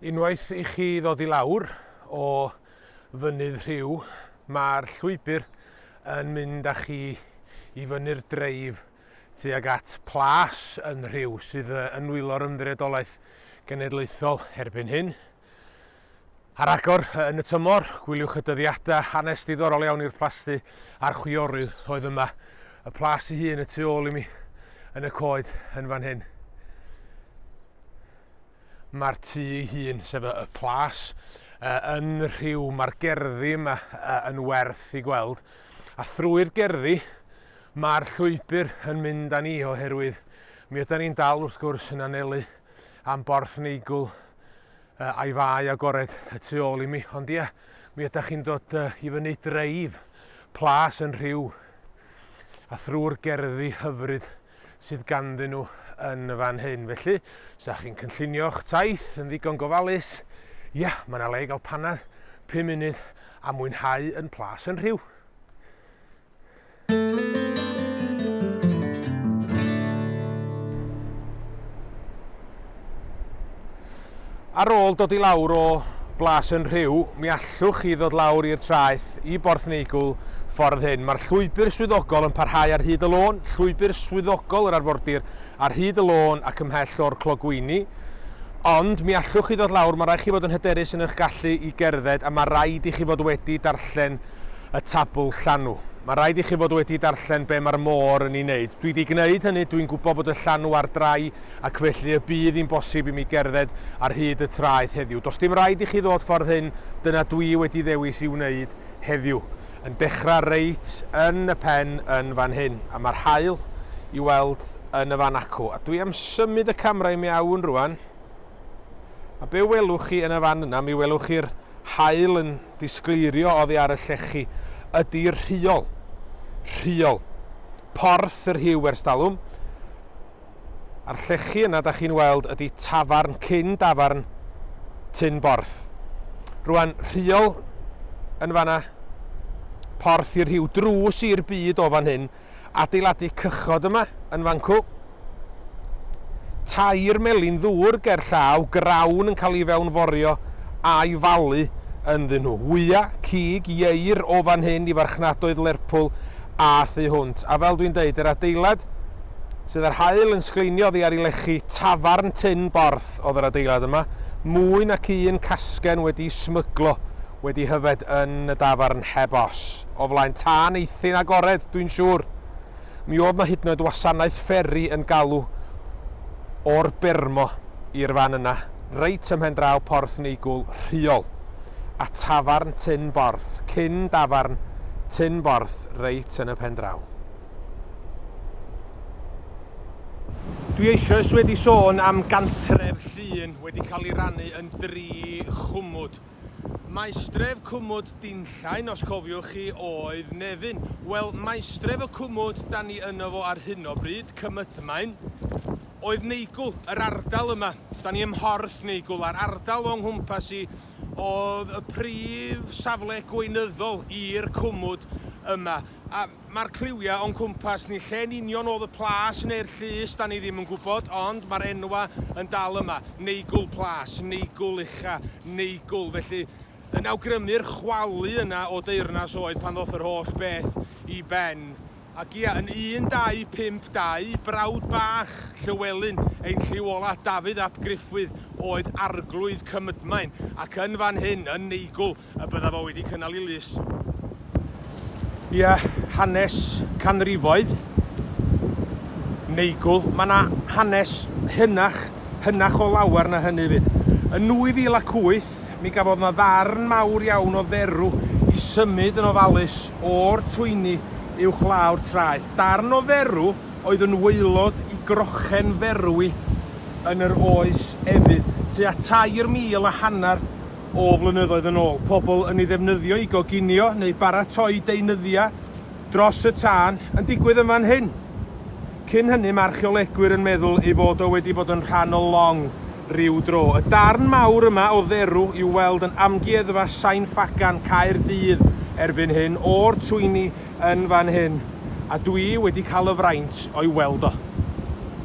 Unwaith i chi ddod i lawr o Fynydd Rhiw, mae'r llwybr yn mynd â chi i fyny'r dreif tuag at Plas yn Rhiw, sydd yn nwylo'r Ymddiriedolaeth Genedlaethol erbyn hyn. Ar agor yn y tymor, gwyliwch y dyddiadau hanes diddorol iawn i'r plasty a'r chwiorydd oedd yma. Y plas ei hun y tu ôl i mi yn y coed yn fan hyn. Mae'r tŷ ei hun, sef y, y plas, uh, yn rhyw, mae'r gerddi yma uh, yn werth i gweld. A thrwy'r gerddi, mae'r llwybr yn mynd â ni oherwydd mi ydy'n ni'n dal wrth gwrs yn anelu am borth neigwl uh, a'i fai agored y tu ôl i mi. Ond ie, mi ydych chi'n dod uh, i fyny dreif, plas yn rhyw, a thrwy'r gerddi hyfryd sydd ganddyn nhw yn fan hyn. Felly, os ydych chi'n cynllunio'ch taith yn ddigon gofalus, ia, mae yna le i gael panad 5 munud a mwynhau yn plas yn rhyw. Ar ôl dod i lawr o Blas yn Rhiw, mi allwch chi ddod lawr i'r traeth i Borth Neigwl ffordd hyn. Mae'r llwybr swyddogol yn parhau ar hyd y lôn, llwybr swyddogol yr arfordir ar hyd y lôn ac ymhell o'r clogwyni. Ond mi allwch chi ddod lawr, mae rhaid chi fod yn hyderus yn eich gallu i gerdded a mae rhaid i chi fod wedi darllen y tabl llanw. Mae rhaid i chi fod wedi darllen be mae'r môr yn ei wneud. Dwi 'di gwneud hynny, dwi'n gwybod bod y llanw ar drai ac felly y bydd hi'n bosib i mi gerdded ar hyd y traeth heddiw. Does dim rhaid i chi ddod ffordd hyn, dyna dwi wedi ddewis i wneud heddiw. Yn dechrau reit yn y pen yn fan hyn, a mae'r haul i weld yn y fan acw. A dwi am symud y camera i mewn rwan. A be welwch chi yn y fan yna, mi welwch chi'r haul yn disgleirio oddi ar y llechi, ydy'r rhiol. Rhiol. Porth yr hiw ers dalwm. A'r llechi yna da chi'n weld ydi tafarn cyn dafarn Tyn Borth. Rwan, rhiol yn fanna, porth i'r rhiw, drws i'r byd o fan hyn, adeiladu cychod yma yn fancw, tair melin ddŵr ger llaw, grawn yn cael ei fewnforio a'i falu ynddyn nhw. Wya, cig, ieir o fan hyn i farchnadoedd Lerpwl a thu hwnt. A fel dwi'n deud, yr adeilad sydd â'r haul yn sgleinio oddi ar ei lechi, tafarn tun borth oedd yr adeilad yma, mwy nac un casgen wedi'i smyglo wedi hyfed yn y dafarn heb os, o flaen tân eithin agored, dwi'n siŵr. Mi oedd 'na hyd yn oed wasanaeth fferi yn galw o'r Bermo i'r fan yna, reit ymhen draw Porth Neigwl, Rhiol, a tafarn tun borth, cyn dafarn tun borth, reit yn y pen draw. Dwi eisoes wedi sôn am gantref Llŷn wedi cael ei rannu yn dri chwmwd. Maestref cwmwd Dinllaen, os cofiwch chi, oedd Nefyn. Wel, maestref y cwmwd da ni yno fo ar hyn o bryd, Cymydmaen, oedd Neigwl, yr ardal yma. Da ni ymhorth Neigwl a'r ardal o'n nghwmpas i oedd y prif safle gweinyddol i'r cwmwd yma. A Mae'r cliwiau o'n cwmpas ni, lle'n union oedd y plas neu'r llys, 'da ni ddim yn gwybod, ond mae'r enwau yn dal yma, Neigwl Plas, Neigwl Ucha, Neigwl, felly yn awgrymu'r chwalu yna o deyrnas oed pan ddoth yr holl beth i ben. Ac ia, yn 1252, brawd bach Llywelyn, ein lliw ola, Dafydd ap Gruffudd, oedd Arglwydd Cymydmaen, ac yn fan hyn, yn Neigwl, y byddaf o wedi cynnal i lys tua hanes canrifoedd neigwl. Mae yna hanes hynach, hynach o lawer na hynny 'fyd. Yn 2008, mi gafodd yna ddarn mawr iawn o dderw i symud yn ofalus o'r twyni uwch law'r traeth. Darn o dderw oedd yn waelod i grochen ferwi yn yr oes efydd, tua tair mil a hanner o flynyddoedd yn ôl, pobl yn ei ddefnyddio i goginio neu baratoi deunyddiau dros y tân, yn digwydd yn fan hyn. Cyn hynny, mae archeolegwyr yn meddwl ei fod o wedi bod yn rhan o long ryw dro. Y darn mawr yma o dderw i'w weld yn Amgueddfa Sain Ffagan, Caerdydd, erbyn hyn, o'r twyni yn fan hyn, a dwi wedi cael y fraint o'i weld o.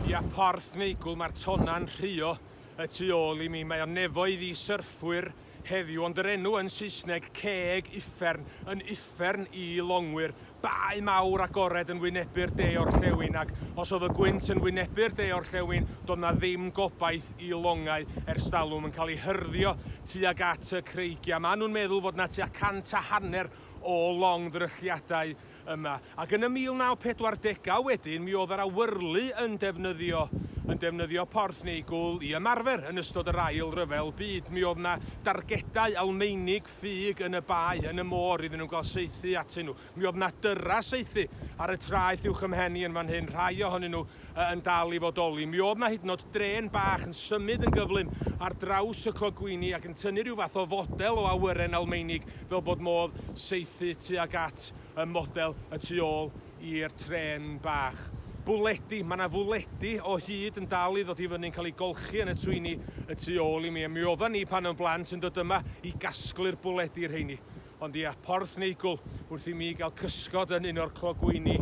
Ia, porth neigwl, mae'r tonnau'n rhuo. Y tu ôl i mi mae o'n nefoedd i syrffwyr heddiw ond yr enw yn Saesneg, Ceg Uffern, yn uffern i longwyr, bae mawr agored yn wynebu'r de orllewin ac os oedd y gwynt yn wynebu'r de orllewin doedd na ddim gobaith i longau ers talwm yn cael ei hyrddio tuag at y creigiau. Mae nhw'n meddwl fod na tua cant a hanner o long ddrylliadau yma, ac yn y 1940au wedyn mi oedd yr awyrlu yn defnyddio yn defnyddio porth neu gwl i ymarfer yn ystod yr Ail Ryfel Byd. Mi oedd yna dargedau Almeinig ffug yn y bae, yn y môr, iddyn nhw gael saethu atyn nhw. Mi oedd yna dyrra saethu ar y traeth uwch ym mhen i yn fan hyn, rhai ohonyn nhw yn dal i fodoli. Mi oedd 'na hyd yn o'd drên bach yn symud yn gyflym ar draws y clogwyni ac yn tynnu rhyw fath o fodel o awyren Almeinig fel bod modd saethu tuag at y model y tu ôl i'r trên bach. Bwledi, mae 'na fwledi o hyd yn dal i ddod i fyny'n cael ei golchi yn y twyni y tu ôl i mi. Mi oeddan ni pan o'n blant yn dod yma i gasglu'r bwledi rheini. Ond ia, Porthneigwl, wrth i mi gael cysgod yn un o'r clogwyni,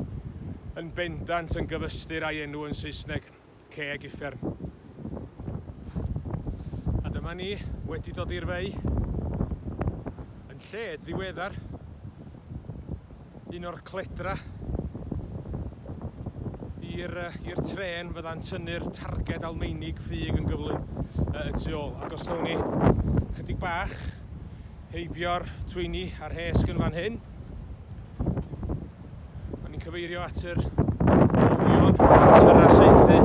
yn bendant yn gyfystyr a'i enw yn Saesneg, ceg uffern. A dyma ni, wedi dod i'r fei, yn lled ddiweddar. un o'r cledra i'r i'r tren fydda'n tynnu'r targed Almeinig ffug yn gyflym y tu ôl. Ac os nawn ni chydig bach heibio'r twyni a'r hesg yn fan hyn, a ni'n cyfeirio at yr olion tyra seithi,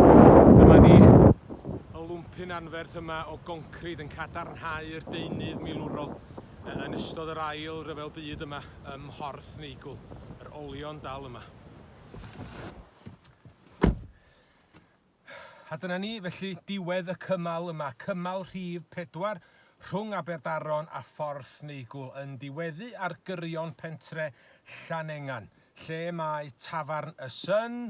dyma ni y lwmpyn anferth yma o goncrid yn cadarnhau'r deunydd milwrol yn ystod yr ail ryfel byd yma. ym Mhorth Neigwl, yr olion dal yma. A dyna ni, felly diwedd y cymal yma, cymal rhif pedwar rhwng Aberdaron a Phorth Neigwl yn diweddu ar gyrion pentre Llanengan, lle mae Tafarn y Sun,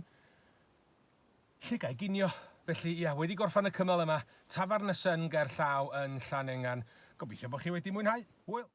lle ga'i ginio. Felly ia, wedi gorffan y cymal yma, Tafarn y Sun ger llaw yn Llanengan. Gobeithio bod chi wedi mwynhau. Hwyl!